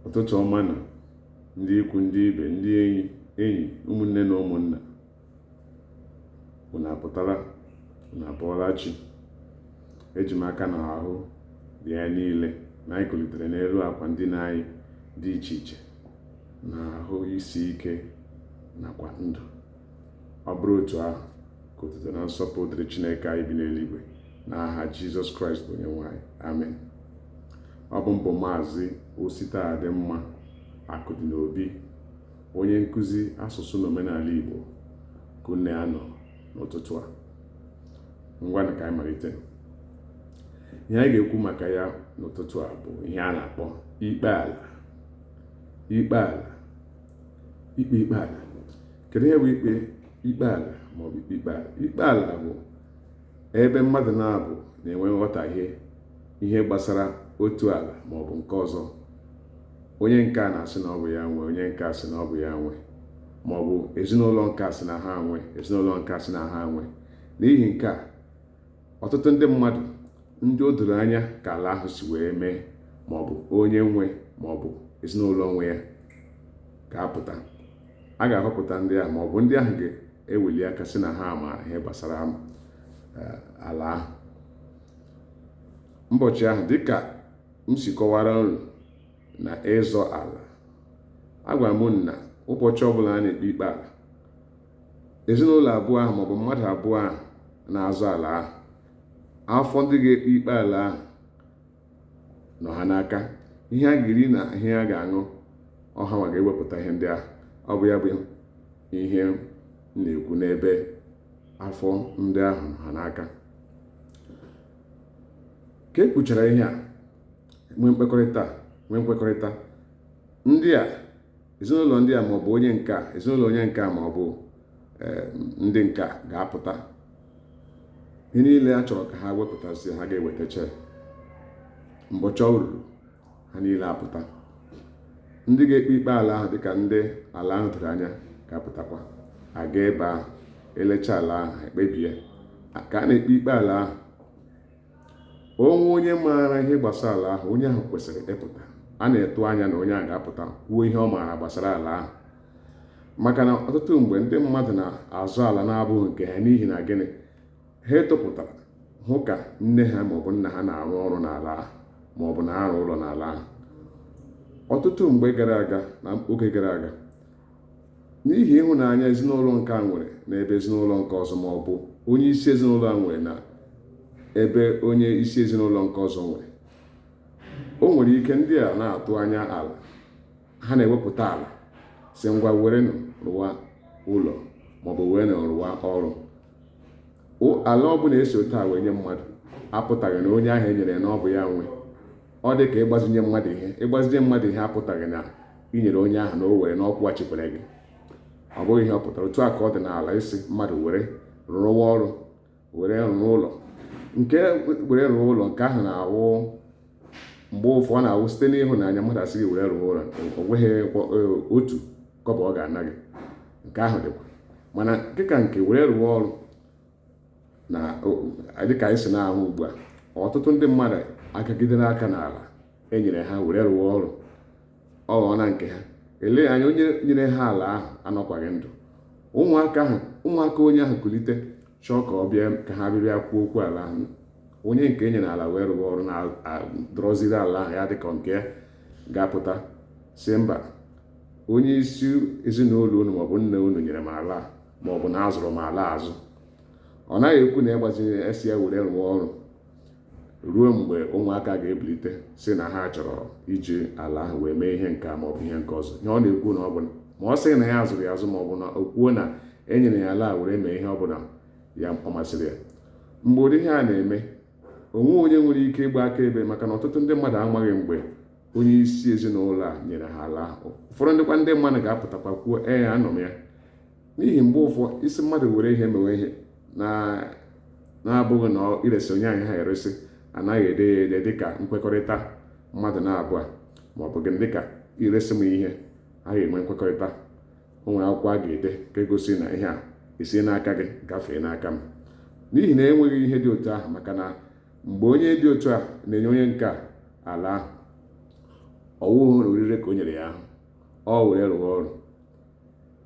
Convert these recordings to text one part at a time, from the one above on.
ụtụtụ ọma nụ ndị ikwu ndị ibe ndị enyi ụmụnne na ụmụnna unu apụtala unu abọọla chi eji m aka na ahụ dị ya niile na anyị kulitere n'elu akwa ndina anyị dị iche iche na ahụ isi ike nakwa ndụ ọ bụrụ otu ahụ ka otuto na nsọpụ dịrị chineke anyị bi n'eluigwe n'aha jizọs kraịst bụ onyenwe anyị amen ọ bụ m bụ maazị ositadịmma akụdịnobi onye nkụzi asụsụ na omenala igbo ka unu na ya nọ n'ụtụtụ a ngwanụ ka anyị malite ihe anyị ga-ekwu maka ya n'ụtụtụ a bụ ihe a na-akpọ ikpe ala ikpe ala ikpe ikpe ala kedu ihe bụ ikpe ikpe ala maọbụ ikpe ikpe ala ikpe ala bụ ebe mmadụ naabọ na-enwe nghọtahie ihe gbasara otu ala maọbụ nke ọzọ onye nke a na-asị na ọ bụ ya nwe onye nke a sị na ọ bụ ya nwe maọbụ ezinụlọ nke a sị na ha nwe ezinụlọ nke a sị na ha nwe n'ihi nke a ọtụtụ ndị mmadụ ndị o doro anya ka ala ahụ si wee mee ma ọ bụ onye nwe ma ọ bụ ezinụlọ nwe ya ga-apụta a ga-ahọpụta ndị ahụ ma ọ bụ ndị ahụ ga-eweli aka sị na ha maara ihe gbasara eh, ala ahụ mbọchị ahụ dịka m si kọwara unu na ịzọ ala agwara m unu na ụbọchị ọbụla a na-ekpe ikpe ala ezinụlọ abụọ ahụ maọbụ mmadụ abụọ ahụ na-azọ ala ahụ afọ ndị ga-ekpe ikpe ala ahụ nọ ha n'aka ihe a ga-eri na ihe a ga-aṅụ ọ hanwa ga-ewepụta ihe ndị ahụ ọ bụ ya bụ ihe m na-ekwu n'ebe afọ ndị ahụ nọ ha n'aka ka e kwuchara ihe a nwee mkpekọrịta nwee nkwekọrịta ndị a ezinụlọ ndị a maọbụ onye nke a ezinụlọ onye nke a maọbụ eh, ndị nke a ga-apụta ihe niile a chọrọ ka ha wepụtasị ha ga-ewetacha mbọchị o ruru ha niile apụta ndị ga-ekpe ikpe ala ahụ dịka ndị ala ahụ doro anya ga-apụtakwa aga ebe ahụ elecha ala ahụ ekpebie ka a na-ekpe ikpe ala ahụ o nwee onye maara ihe gbasara ala ahụ onye ahụ kwesịrị ịpụta a na-atụ anya na onye ahụ ga-apụta kwuo ihe ọ maara gbasara ala ahụ maka na ọtụtụ mgbe ndị mmadụ na-azọ ala na-abụghị nke ha n'ihi na gịnị ha etopụtara hụ ka nne ha maọbụ nna ha na-arụ ọrụ n'ala ahụ maọbụ na-arụ ụlọ n'ala ahụ ọtụtụ mgbe gara aga na oge gara aga n'ihi ịhụnanya ezinụlọ nke a nwere n'ebe ezinụlọ nke ọzọ ma ọ bụ onye isi ezinụlọ a nwere na ebe onye isi ezinụlọ nke ọzọ nwere o nwere ike ndị a na-atụ anya ala ha na-ewepụta ala sị ngwa were rụwa ụlọ maọbụ were rụwa ọrụ ala ọbụla e si otu a wee nye mmadụ apụtaghị na onye ahụ e nyere na ọ bụ ya nwe ọ dị ka ịgbazinye mmadụ ihe ịgbazinye mmadụ ihe apụtaghị na i nyere onye ahụ na o were na ọ kwụghachikwere gị ọ bụghị ihe ọ pụtara otu a ka ọ dị n'ala ị sị mmadụ were rụwa ọrụ were rụọ ụlọ nke were rụọ ụlọ nke ahụ na-awụ mgbe ụfọ ọ na-awụ site n'ịhụnanya mmadụ asị gị were rụọ ụlọ o nweghị e, otu kọbọ ọ ga-ana gị nke ahụ dịkwa mana dịka nke were rụọ ọrụ na dịka anyị si na-ahụ ugbu a ọtụtụ ndị mmadụ agagidere aka n'ala e nyere ha were rụọ ọrụ ọ ghọọ na nke ha elee anya onye nyere ha ala ahụ anọkwaghị ndụ ụmụaka ahụ ụmụaka onye ahụ kulite chọọ ka ọ bịa ka ha bịa kwuo okwu ala ahụ onye nke e nyere ala wee rụọ ọrụ na-adọrọziri ala ahụ ya dịka nke ya ga-apụta sị mba onye isi ezinụlọ unu maọbụ nna unu nyere m ala a ma ọ bụ na azụrụ m ala azụ ọ naghị ekwu na ịgbazinye a sị ya were rụọ ọrụ ruo mgbe ụmụaka ga-ebilite sị na ha chọrọ iji ala ahụ wee mee ihe nke a ma ọ bụ ihe nke ọzọ ihe ọ na-ekwu na ọ bụ ma ọ sị na ya azụrụ ya azụ ma ọ bụ na o kwuo na e nyere ya ala were mee ihe ọ bụla ya ọ masịrị ya mgbe ụdị ihe a na-eme o nweghị onye nwere ike ịgba akaebe maka na ọtụtụ ndị mmadụ amaghị mgbe onye isi ezinụlọ a nyere ha ala ahụ ụfọdụ ndịkwa ndị mmadụ ga-apụtakwa kwuo ee anọ m ya n'ihi mgbe ụfọ ị sị mmadụ were ihe mewe ihe na-abụghị na i resi onye ahụ ya eresi anaghị ede ya ede dịka nkwekọrịta mmadụ naabọ ma ọ bụ gị dịka i resi m ihe a ga-enwe nkwekọrịta o nwere akwụkwọ a ga-ede nke gosi na ihe a esi n'aka gị gafee n'aka m n'ihi na enweghị ihe dị otu ahụ maka na mgbe onye dị otu a na-enye onye nke ala ahụ ọ wụghị orire ka o nyere ya ahụ o were rụwa ọrụ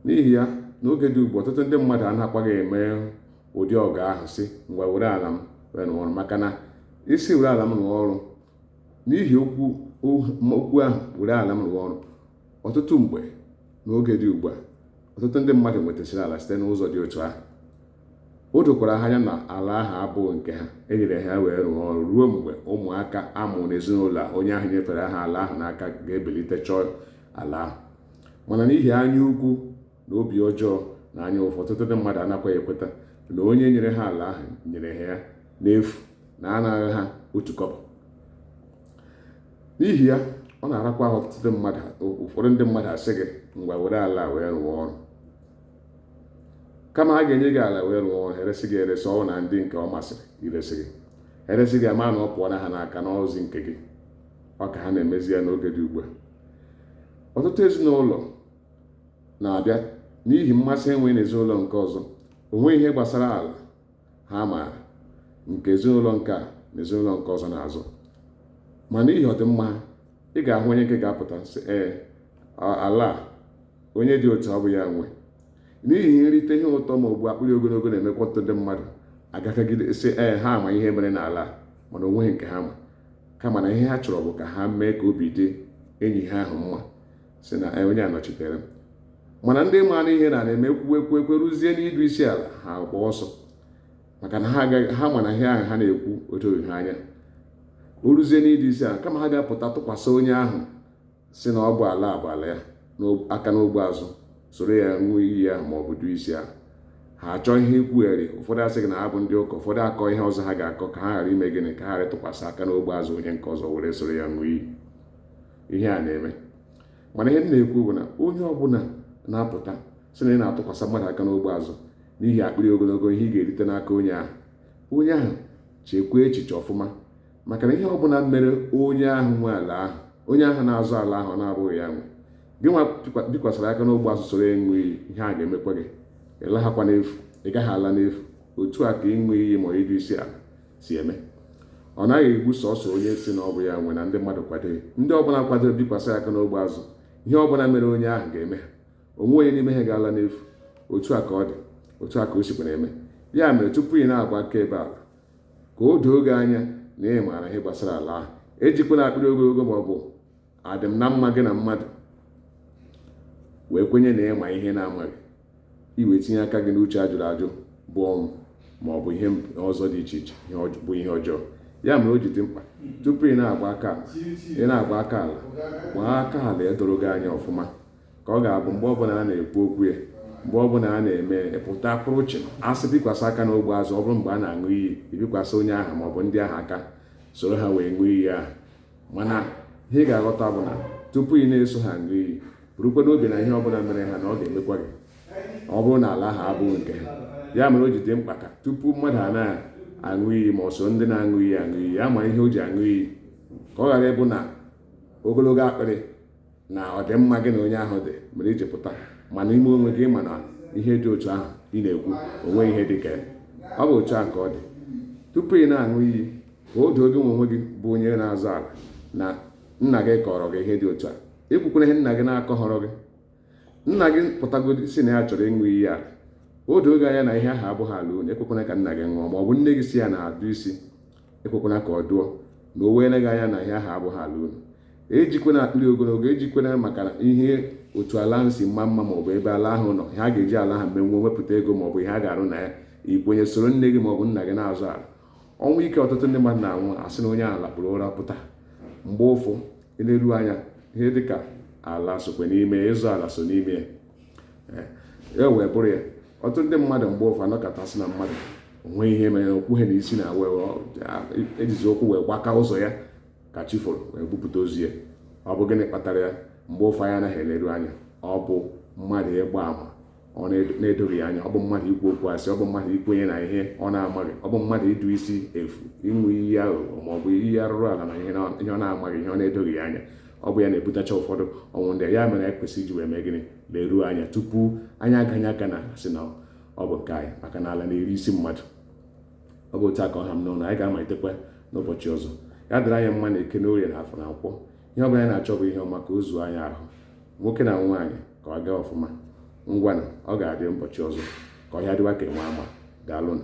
n'ihi ya n'oge dị ugbu a ọtụtụ ndị mmadụ anakwaghị eme ụdị ọgọ ahụ sị ngwa were ala m wee rụọ ọrụ maka na ị sị were ala m rụọ ọrụ n'ihi okwu okwu ahụ were ala m rụọ ọrụ ọtụtụ mgbe n'oge dị ugbu a ọtụtụ ndị mmadụ nwetasịrị ala site n'ụzọ dị otu ahụ o dokwara ha anya na ala ahụ abụghị nke ha e nyere ha ya wee rụọ ọrụ ruo mgbe ụmụaka a mụrụ n'ezinụlọ onye ahụ nyefere ha ala ahụ n'aka ga-ebilite chọọ ala ahụ mana n'ihi anya ukwu na obi ọjọọ na anya ụfụ ọtụtụ ndị mmadụ anakwaghị ekweta na onye nyere ha ala ahụ nyere ha ya n'efu na anaghị ha otu kọbọ n'ihi ya ọ na-arakwa ahụ ọtụtụ mmadụ ụfọdụ ndị mmadụ asị gị ngwa were ala wee rụọ ọrụ kama ha ga-enye gị ala wee rụọ ọrụ eresị gị eresị ọbụna ndị nke ọ masịrị iresị gị eresị gị ama na ọ pụọna ha n'aka n'ọzi nke gị ọ ka ha na-emezi ya n'oge dị ugbu a ọtụtụ ezinụlọ na-abịa n'ihi mmasị e nwe na ezinụlọ nke ọzọ o nweghị ihe gbasara ala ha maara nke ezinụlọ nke a na ezinụlọ nke ọzọ na-azọ ma n'ihi ọdịmma ha ị ga-ahụ onye nke ga-apụta sị ee ala a onye dị otu a ọ bụ ya nwe n'ihi nrite ihe ụtọ ma ọ bụ akpịrị ogologo na-emekwa ọtụtụ ndị mmadụ agakagide sị ee ha ma ihe mere n'ala mana o nweghị nke ha ma kama na ihe ha chọrọ bụ ka ha mee ka obi dị enyi ha ahụ mma sị na ee onye a nọchitere m mana ndị maara ihe na na-eme kwuwe ekwu ekwe ruzie n'idu isi ala ha agbaa ọsọ maka na ha ma na ihe ahụ ha na-ekwu o doghị ha anya o ruzie n'idu isi ala kama ha ga-apụta tụkwasị onye ahụ sị na ọ bụ ala a bụ ala ya aka n'ogbe azụ soro ya ṅụọ iyi ahụ ma ọ bụ duo isi ahụ ha achọọ ihe ikwugheri ụfọdụ asị gị na ha bụ ndị ụka ụfọdụ akọ ihe ọzọ ha ga-akọ ka ha ghara ime gịnị ka ha ghara ịtụkwasị aka n'ogbe azụ onye nke ọzọ were soro ya ṅụọ iyi ihe a na-eme mana ihe m na-ekwu bụ na onye ọbụla na-apụta sị na ị na-atụkwasị mmadụ aka n'ogbe azụ n'ihi akpịrị ogologo ihe ị ga-erite n'aka onye ahụ onye ahụ chekwaa echiche ọfụma maka na ihe ọ bụla mere onye ahụ nwe ala ahụ onye ahụ na-azọ ala ahụ na-abụghị ya nwe gị nwa bikwasịrị aka n'ogbe azụ soro ịṅụ iyi ihe a ga-emekwa gị ị laghakwa n'efu ị gaghị ala n'efu otu a ka ịṅụ iyi ma idu isi ala si eme ọ naghị egbu sọsọ onye sị na ọ bụ ya nwe na ndị mmadụ kwadoghị ndị ọbụla kwadoro bikwasị aka n'ogbe azụ ihe ọbụla mere onye ahụ ga-eme ha o nweghị onye n'ime ha ga-ala n'efu otu a ka ọ dị otu a ka o sikwa na-eme ya mere tupu ị na-agba akaebe ala ka o doo gị anya na ị maara ihe gbasara ala ahụ ejikwana akpịrị ogologo ma ọ bụ adịm na mma gị na mmadụ wee kwenye na ị ma ihe ị na-amaghị i wee tinye aka gị n'uche a jụrụ ajụ bụ ọnwụ ma ọ bụ ihe ọzọ dị iche iche bụ ihe ọjọọ ya mere o ji dị mkpa tupu ị na-agba aka ala ị na-agba aka ala gbaa aka ala edoro gị anya ọfụma ka ọ ga-abụ mgbe ọbụla a na-ekwu okwu ya mgbe ọbụla a na-eme pụta pụrụ uche a sị bikwasị aka n'ogbe azụ ọ bụrụ mgbe a na-aṅụ iyi i bikwasị onye ahụ ma ọ bụ ndị ahụ aka soro ha wee ṅụọ iyi ahụ mana ihe ị ga-aghọta bụ na tupu ị na-eso ha ṅụọ iyi burukwa n'obi na ihe ọbụla mere ha na ọ ga-emekwa gị ọ bụrụ na ala ahụ abụghị nke ha ya mere o ji dị mkpa ka tupu mmadụ a na-aṅụ iyi ma o so ndị na-aṅụ iyi aṅụ iyi ya ma ihe o ji aṅụ iyi ka ọ ghara ịbụ na ogologo akpịrị na ọdịmma gị na onye ahụ dị mere iji pụta ma n'ime onwe gị ma na ihe dị otu ahụ ị na-ekwu o nwe ihe dị ka ọ bụ otu ahụ ka ọ dị tupu ị na-aṅụ iyi ka o doo gị nwe onwe gị bụ onye na-azọ ala na nna gị kọrọ gị ihe dị otu a ekwukwana ihe nna gị na-akọhọrọ gị nna gị pụtagodi sị na ya chọrọ ịṅụ iyi ala o doo gị anya na ihe ahụ abụghị ala unu ekwekwana ka nna gị ṅụọ ma ọ bụ nne gị sị ya na-adụ isi ekwekwana ka ọ dụọ na o weere gị anya na ihe ahụ abụghị ala unu ejikwana akpịrị ogologo ejikwana maka ihe otu ala ahụ si mma mma maọbụ ebe ala ahụ nọ ha ga-eji ala ahụ menwuo wepụta ego maọbụ ihe a ga-arụ na ya i kwenye soro nne gị maọbụ nna gị na-azọ ala ọnwụ ike ọtụtụ ndị mmadụ na-anwụ a sị na onye a lakpuru ụra pụta mgbe ụfụ e leru anya ihe dịka ala sokwa n'ime ịzọ ala so n'ime ya e wee bụrụ ya ọtụtụ ndị mmadụ mgbe ụfụ a nọkata sị na mmadụ o nwe ihe mere okwu ha n'isi na e jizi ụkwụ wee gbaka ụzọ ya ka chi foro wee bupụta ozu ya ọ bụ gịnị kpatara ya mgbe ụfụ anyị anaghị eleru anya ọ bụ mmadụ ịgba ama ọ na-edoghị anya ọ bụ mmadụ ikwu okwu asị ọ bụ mmadụ ikwenye na ihe ọ na-amaghị ọ bụ mmadụ ịdụ isi efu ịṅụ iyi aghụghọ maọbụ iyi arụrụ ala na ihe ọ na-amaghị ihe ọ na-edoghị anya ọ bụ ya na-ebutacha ụfọdụ ọnwụ ndị ya mere anyị kwesịrị iji wee mee gịnị leruo anya tupu anyị aganye aka na-asị na ọ bụ nke anyị maka na ala na-eri isi mmadụ ọ bụ otu a ka ọ ha m n'ọnụ anyị ga-amalitekwa n'ụbọchị ọzọ ya dịrị anyị mma na eke na orie na afọ na nkwọ ihe ọ bụla anyị na-achọ bụ ihe ọma ka o zuo anyị ahụ nwoke na nwaanyị ka ọ gaa ọfụma ngwanụ ọ ga-adị ụbọchị ọzọ ka ọhịa dịwa ka enwe ama daalụnụ